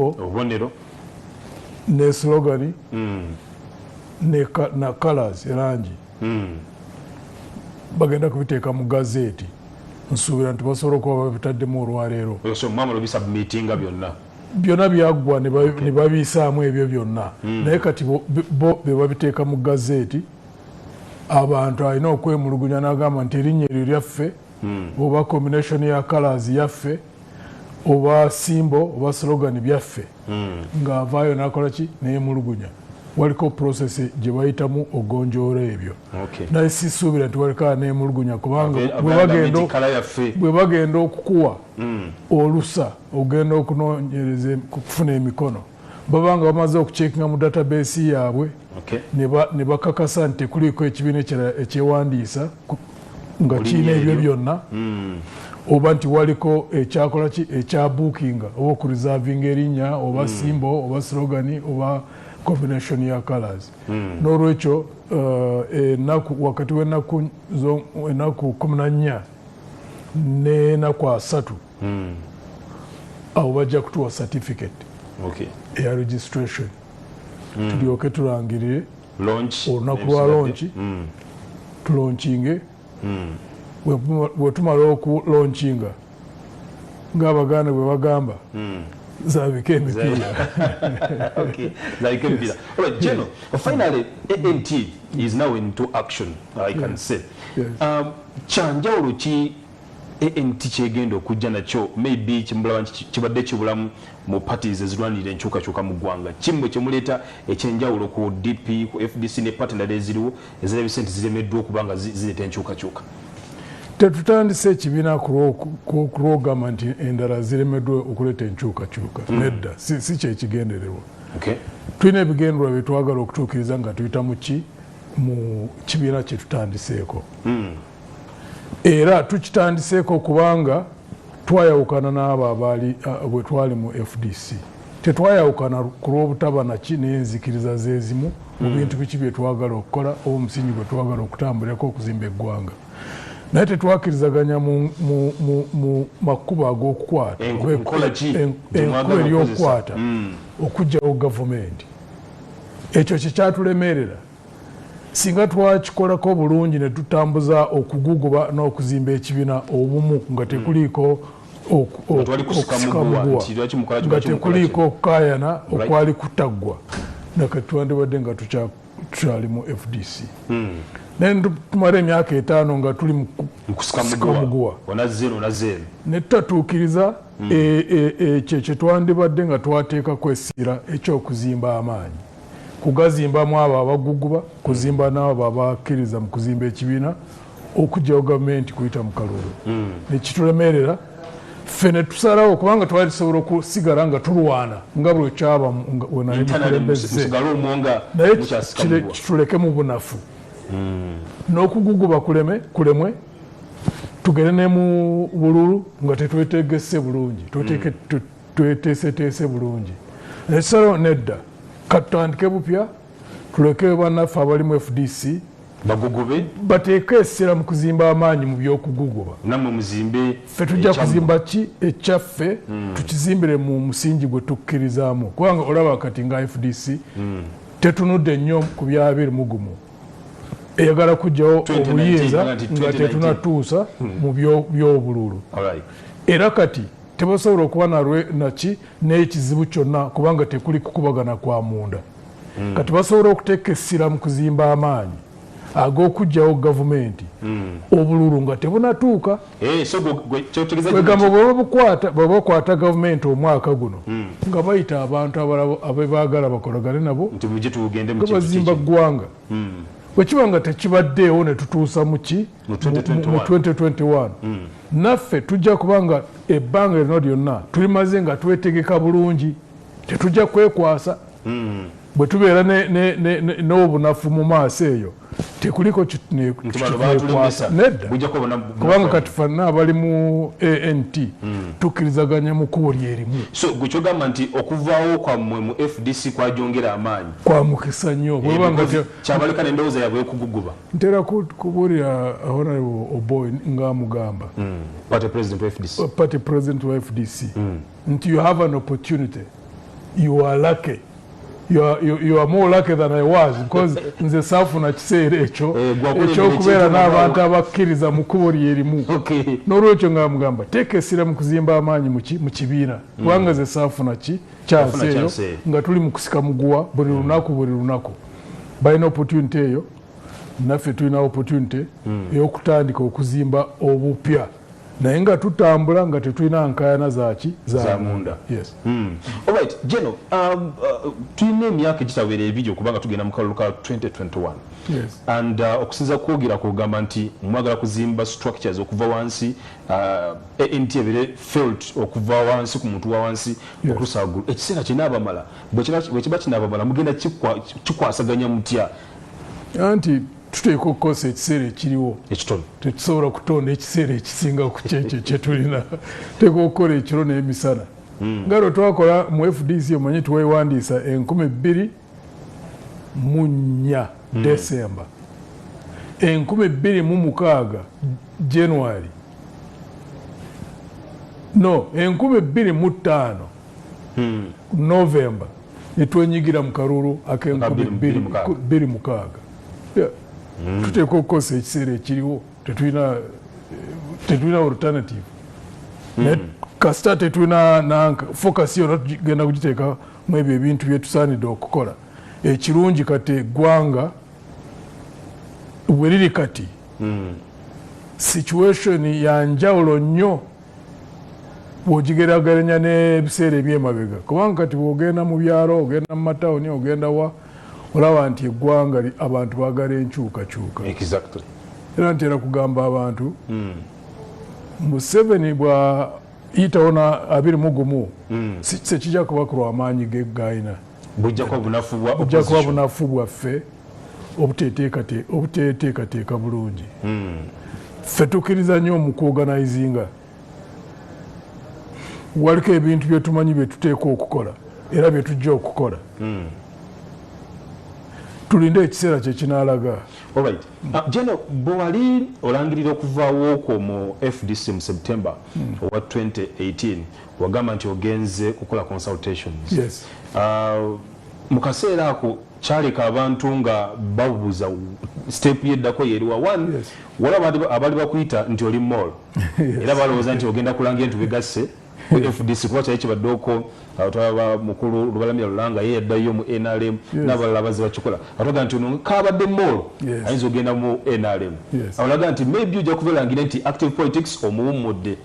obubonero ne slogani mm. ne na colors erangi mm. bagenda kubiteeka mu gazeeti nsuubira nti basobola okuba babitaddemu olwaleero byonna byonna byaggwa ne babiyisaamu ebyo byonna hmm. naye kati bo be babiteeka mu gazeeti abantu alina okwemulugunya n'agamba nti erinnya eryo lyaffe hmm. oba combination ya colors yaffe oba simbo oba slogan byaffe hmm. nga avaayo nakola ki neyemulugunya waliko process gye bayitamu ogonjoola ebyo naye sisuubira nti waliko neyemulugunya kubanga bwe bagenda okukuwa hmm. olusa ogenda okunonyereza kufuna emikono baba nga bamaze okucekinga mu database yaabwe ne bakakasa nti tekuliiko ekibiina ekirala ekyewandiisa nga kirina ebyo byonna hmm. oba nti waliko ekyakola ki ekyabuukinga oba okureservinga erinnya oba hmm. simbo oba slogani oba combination ya colors hmm. n'olwekyo uh, enaku wakati w'enaku enaku kumi na nnya n'enaku asatu hmm. awo bajja kutuwa certificate okay. eya registration mm. tulyoke tulangirire olunaku lwa lonki mm. tulonkinge mm. wetumala oku lonkinga ngaabaganda bwe bagamba mm. zabika emipiira okay. zabika emipiira right, general yes. finally ant is now into action i can yes. say yes. um, kyanjawulo ki ANT kyegenda okujja nakyo maybe kyemulaba nti kibadde kibulamu mu parties ezirwanirira enkyukakyuka mu ggwanga. Ki mmwe kyemuleeta ekyenjawulo ku DP, ku fdc ne party endala eziriwo ezirabise nti ziremeddwa okuba nga zireeta enkyukakyuka? Tetutandise ekibiina kulwogamba nti endala ziremeddwa okuleeta enkyukakyuka. Hmm. Nedda, si kyekigendererwa. Tulina ebigendererwa bye twagala okutuukiriza nga tuyita mu ki mu kibiina kye tutandiseeko. Hmm. era tukitandiseeko kubanga twayawukana n'abo abaali bwe twali mu fdc tetwayawukana ku lw'obutaba naki naye enzikiriza zeezimu mu hmm. bintu biki bye twagala okukola oba omusingi gwe twagala okutambulirako okuzimba eggwanga naye tetwakirizaganya mu makubo ag'okukwata enkuba ery'okukwata okugyawo gavumenti ekyo kyekyatulemerera Singa twakikolako bulungi ne tutambuza okuguguba n'okuzimba ekibina obumu nga tekuliiko okusikamuguwa nga tekuliiko okukayana okwali kutaggwa nakati twandibadde nga tukyali mu fdc hmm. naye netumala emyaka etaano nga tuli mukusikamuguwa netutatuukiriza hmm. e, e, e, ekyo kyetwandibadde nga twateekako esiira ekyokuzimba amaanyi kugazimbamu abo abaguguba kuzimba naabo abakkiriza mu kuzimba ekibiina okugyawo gavumenti kuyita mu kalulu hmm. nekitulemerera ffe netusalawo kubanga twali tusobola okusigala nga tulwana nga buli okyaba wenamukulembeze naye kituleke mu bunafu hmm. n'okuguguba kuleme kulemwe tugere ne mu bululu nga tetwetegese bulungi hmm. tweteeseteese bulungi ekisalawo nedda katutandike bupya tuleke banaffe abalimu fdc bagugube bateeke essira mu kuzimba amaanyi mu byokuguguba namwe muzimbe ffe tujja kuzimba ki ekyaffe mm. tukizimbire mu musingi gwe tukkirizaamu kubanga olaba kati nga fdc mm. tetunudde nnyo ku bya biri mugumu eyagala kujjawo obuyinza nga tetunatuusa hmm. mu byobululu era kati Tebasobola okuba nalwe naki n'ekizibu kyonna kubanga tekuli kukubagana kwa munda. Mm. Kati basobola okuteeka essira mu kuzimba amaanyi ag'okuggyawo gavumenti mm. obululu nga tebunatuuka. Hey, eh, so Kwegamba bwebabukwata bwebakwata gavumenti omwaka guno mm. nga bayita abantu abebaagala bakolagane nabo nga bazimba ggwanga. Mm. Bwekiba nga tekibaddeewo ne tutuusa mu ki? mu 2021 hmm. naffe tujja kuba nga ebbanga erino lyonna tulimaze nga twetegeka bulungi tetujja kwekwasa hmm. bwe tubeera n'obunafu mu maaso eyo tekuliko kikwekwasa nedda kubanga kati fanna abali mu ant hmm. tukkirizaganya mu kkubo lyerimu gwekyogamba nti okuvaawo kwammwe mu fdc kwajongera amaanyi kwa mukisa nnyo kyabaleka nendowooza yabwe ekuguguba ntera kubuulira honorable oboy nga amugamba hmm. party president wa fdc, uh, party president wa FDC. Mm. nti you have an opportunity you are lucky You are, you, you are more lucky than I was because nze saafuna kiseera ekyo eh, ekyokubeera n'abantu abakkiriza mu kkubo lyerimu n'olwekyo nga mugamba teeka essira mu kuzimba amaanyi mu kibiina hmm. kubanga ze saafuna ki kyansi eyo nga tuli mu kusika muguwa buli hmm. lunaku buli lunaku balina opportunity eyo naffe tulina opportunity hmm. eyokutandika okuzimba obupya naye nga tutambula nga tetulina nkayana zaki zamunda hmm. geno um, uh, tulina emyaka egitawera ebiri okubanga tugenda mu kalulu ka 2021 and uh, okusinza kwogera kugamba nti mwagala kuzimba structures okuva wansi uh, nti ebere felt okuva wansi ku muntu wa wansi okutusa waggulu ekiseera kyena abamala bwekiba kinababala mugenda kikwasaganya mutya anti tuteeka okukozesa ekiseera ekiriwo ekitono tetusobola kutonda ekiseera ekisinga ku kyekyo kyetulina teeka okukola ekiro n'emisana hmm. nga lwe twakola mu fdc omanyi twewandiisa enkumi bbiri mu nnya hmm. desemba enkumi bbiri mu mukaaga january no enkumi bbiri mu ttaano hmm. november netwenyigira mu kalulu akenkumi bbiri mukaaga hmm. tuteeka okukozesa ekiseera ekiriwo tetulina tetulina alternative hmm. kasita tetulina nanka focus yona tugenda kugiteeka mu ebyo ebintu byetusaanidde okukola ekirungi kati eggwanga weriri kati hmm. situation ya njawulo nnyo bwogigerageranya n'ebiseera ebyemabega kubanga kati bwogenda mu byalo ogenda mu matawuni ogenda wa olaba nti eggwanga abantu bagala enkyukakyuka era ntera kugamba abantu hmm. museveni bwayitawo na abiri mugumu hmm. sekijja kuba kulwamaanyi gegayina bujja kuba bunafu bwa bujja kuba bunafu bwaffe obuteteekateeka bulungi hmm. ffe tukkiriza nnyo mu kuoganizinga waliko ebintu byetumanyi byetuteeka okukola era byetujja okukola hmm. tulinde ekiseera kyekinalaga ah, jeno bwewali olangirira okuvaawo okwo mu fdc mu september hmm. owa 2018 Wagamba nti ogenze kukola consultations. Yes. Uh, mu kaseera ako kyaleka abantu nga babuza step yeddako yeriwa one yes. wala abali bakuyita nti oli mall yes. era balowooza nti ogenda kulanga entu bigasse fdc kuba kyali kibaddeko atwaba mukulu lubalamya lulanga ye yaddayo mu nrm nabalala baze bakikola atwaga nti ono kabadde mall ayinza ogenda mu nrm awolaga nti maybe ojja kubelangira nti active politics omuwummudde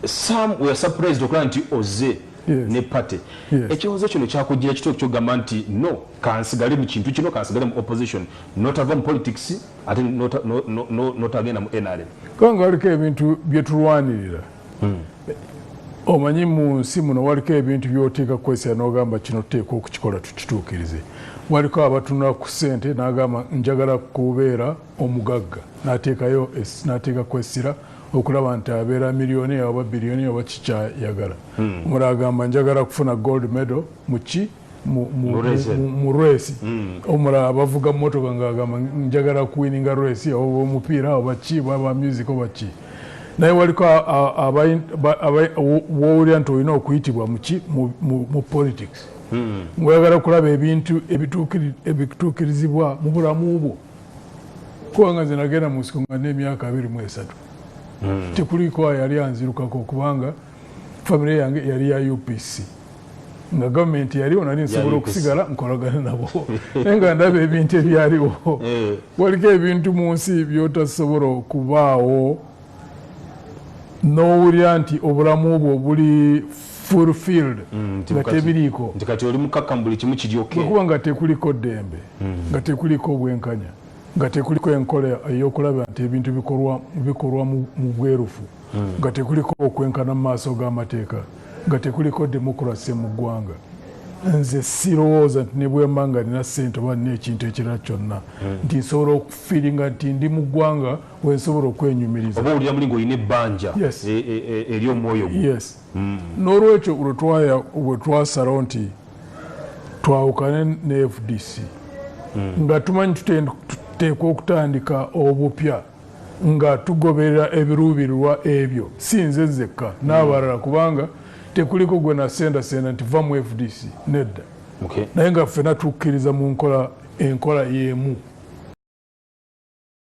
sam we are surprised okulaba nti oze ne party ekyoze kino kyakujira kito kyogamba nti no kansigale mu kintu kino kansigale mu opposition notava mu politics ate notagenda mu nrm kubanga waliko ebintu byetulwanirira hmm. omanyi mu nsi muno waliko ebintu byoteeka kukozesa nogamba kino tuteekwa okukikola tukituukirize waliko abatunula ku sente nagamba njagala kubeera omugagga nateekayo nateeka kwesira okulaba nti abeera miliyoni oba biliyoni oba kikyayagala hmm. mura agamba njagala kufuna gold medal muki mu resi hmm. omulala abavuga motoka ngaagamba njagala kuwininga resi oba omupiira oba ki baba music oba ki naye waliko wowulira nti olina okuyitibwa muki mu politics hmm. ngaoyagala kulaba ebintu ebituukirizibwa mu bulamu bwo kubanga nze nagenda mu nsiko nga n'emyaka abiri mu esatu hmm. tekuliko yali anzirukako kubanga famire yange yali ya upc nga gavumenti yaliwo nali nsobola okusigala nkolagana nabo naye nga ndaba ebintu ebyaliwo eh. waliko ebintu mu nsi byotasobola okubaawo nowulira nti obulamu bwo buli fulfilled mm, nga tebiriiko nti kati oli mukakkamu buli kimu kiri okay bwekuba nga tekuliko ddembe mm. nga tekuliko obwenkanya nga tekuliko enkola eyokulaba nti ebintu bikolwa bikolwa mu bwerufu mm. nga tekuliko okwenkana mu maaso g'amateeka nga tekuliko demokrasi mu ggwanga nze sirowooza nti nebwemba nga nina sente oba nina ekintu ekirala kyonna nti nsobola okufiringa nti ndi mu ggwanga wensobola okwenyumiriza oba owulira muli ngaolina ebbanja e, e, e, eri omwoyo gwo yes mm. n'olwekyo bwe twasalawo nti twawukane ne fdc mm. nga tumanyi tuteekwa okutandika obupya nga tugoberera ebiruubirirwa ebyo si nze nzekka mm. n'abalala kubanga tekuliko gwe nasendasenda nti va mu fdc nedda naye nga ffena tukkiriza mu nkola enkola y'emu